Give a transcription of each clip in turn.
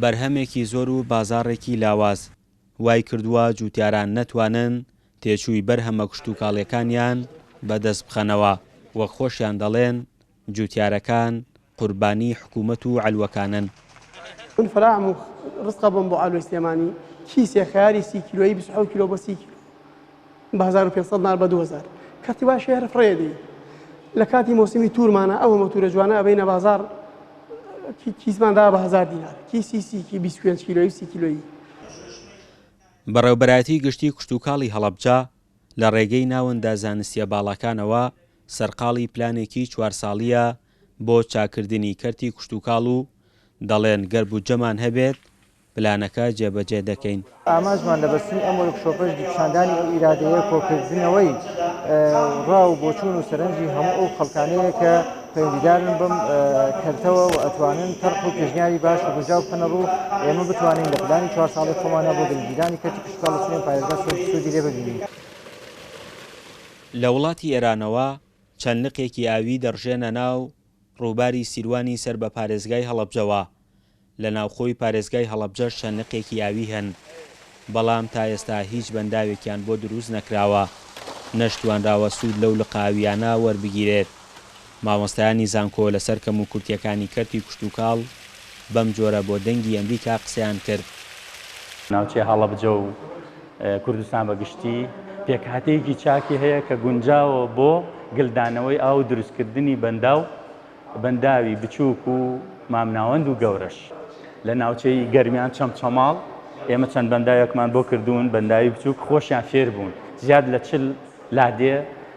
بەرهەمێکی زۆر و بازاڕێکی لاواز وای کردووە جووتیاران نەتوانن تێچووی بەرهەمە کشتوکاڵییەکانیان بە دەست بخەنەوە، وەک خۆشیان دەڵێن جووتیارەکان قوربانیی حکوومەت و عەلوەکانن. من فرام و رزقە بۆم بۆ عەلوەی سلێمانی کیسێ خەیاری سی کیلۆیی بیست و حەوت کیلۆ بۆ سی کیلۆ. بە هەزار و پێنج سەد نار بە دوو هەزار کەرتی وایە شێهر فڕێدی لە کاتی مۆسیمی تورمانە ئەوە مەتورە جوانە ئەبینە بازار کیسمان دا بە هزار دینار کیسی سیکی 25 کیلۆی سی کیلۆیی بەڕێوبەرایەتی گشتی کشتوکاڵی هەڵەبجە لە ڕێگەی ناوەندە زانستیە باڵاکانەوە سەرقاڵی پلانێکی چوار ساڵیە بۆ چاککردنی کەرتی کشتوکاڵ و دەڵێن گەر بودجەمان هەبێت پلانەکە جێبەجێ دەکەین. ئامانجمان لە بەستنی ئەم وۆرکشۆپەش پیشاندانی ئەو ئیرادەیە کۆکردنەوەی ڕا و بۆچوون و سەرنجی هەموو ئەو خەڵکانەیە کە پەیوەندیدارن بەم کەرتەوە و ئەتوانن تەرح و پێشنیاری باش و گونجاو بخەنە ڕوو ئێمە بتوانین لە پلانی چوار ساڵەی خۆمانا بۆ گەنجگیرانی کەرتی کشتوکاڵ و سمێن پارێزگا سوودی لێ ببینین. لە وڵاتی ئێرانەوە چەند لقێکی ئاوی دەڕژێنە ناو ڕووباری سیروانی سەر بە پارێزگای هەڵەبجەوە، لە ناوخۆی پارێزگای هەڵەبجەش چەند نقێکی ئاوی هەن، بەڵام تا ئێستا هیچ بەنداوێکیان بۆ دروست نەکراوە، نەشتوانراوە سوود لەو لقە ئاوییانە وەربگیرێت. مامۆستایانی زانکۆ لەسەر کەموکورتییەکانی کەرتی کشتوکاڵ بەم جۆرە بۆ دەنگی ئەمریکا قسەیان کرد. ناوچەی هەڵەبجە و کوردستان بە گشتی پێکهاتەیەکی چاکی هەیە کە گونجاوە بۆ گلدانەوەی ئاو و دروستکردنی بەنداو، بەنداوی بچووک و مامناوەند و گەورەش لە ناوچەی گەرمیان چەمچەماڵ ئێمە چەند بەنداوێکمان بۆ کردوون بەنداوی بچووک خۆشیان فێر بوون زیاد لە چل لادێ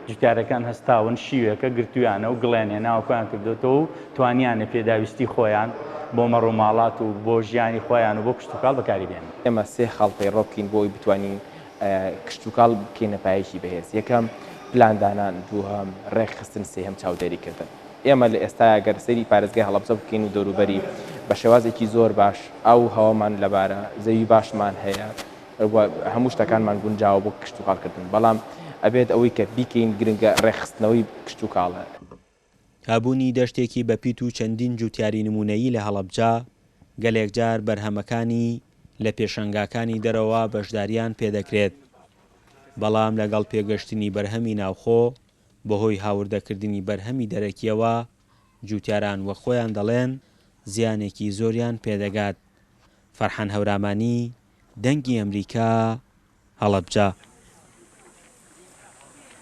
جوتیارەکان هەستاون شیوێکە گرتویانە و گڵیان هێناوە خۆیان کردوێتەوە و توانیانە پێداویستی خۆیان بۆ مەڕ و ماڵات و بۆ ژیانی خۆیان و بۆ کشتوکاڵ بەکاری بێنن. ئێمە سێ خاڵ پەیڕەو بکەین بۆ ئەوەی بتوانین کشتوکاڵ بکەینە پایەکی بەهێز یەکەم پلاندانان دووهەم ڕێکخستن سێهەم چاودێریکردن ئێمە لە ئێستایا گەر سەیری پارێزگای هەڵەبجە بکەین و دەوروبەری بە شێوازێکی زۆر باش ئەو هەوامان لەبارە زەوی باشمان هەیە هەموو شتەکانمان گونجاوە بۆ کشتوکاڵکردن بەڵام ئەبێت ئەوەی کە بیکەین گرنگە ڕێکخستنەوەی کشتوکاڵە هەبوونی دەشتێکی بەپیت و چەندین جووتیاری نموونەیی لە هەڵەبجە، گەلێک جار بەرهەمەکانی لە پێشەنگاکانی دەرەوە بەشدارییان پێ دەکرێت، بەڵام لەگەڵ پێگەشتنی بەرهەمی ناوخۆ، بەهۆی هاوردەکردنی بەرهەمی دەرەکییەوە، جووتیاران وەک خۆیان دەڵێن، زیانێکی زۆریان پێ دەگات. فەرحان هەورامانی، دەنگی ئەمریکا، هەڵەبجە.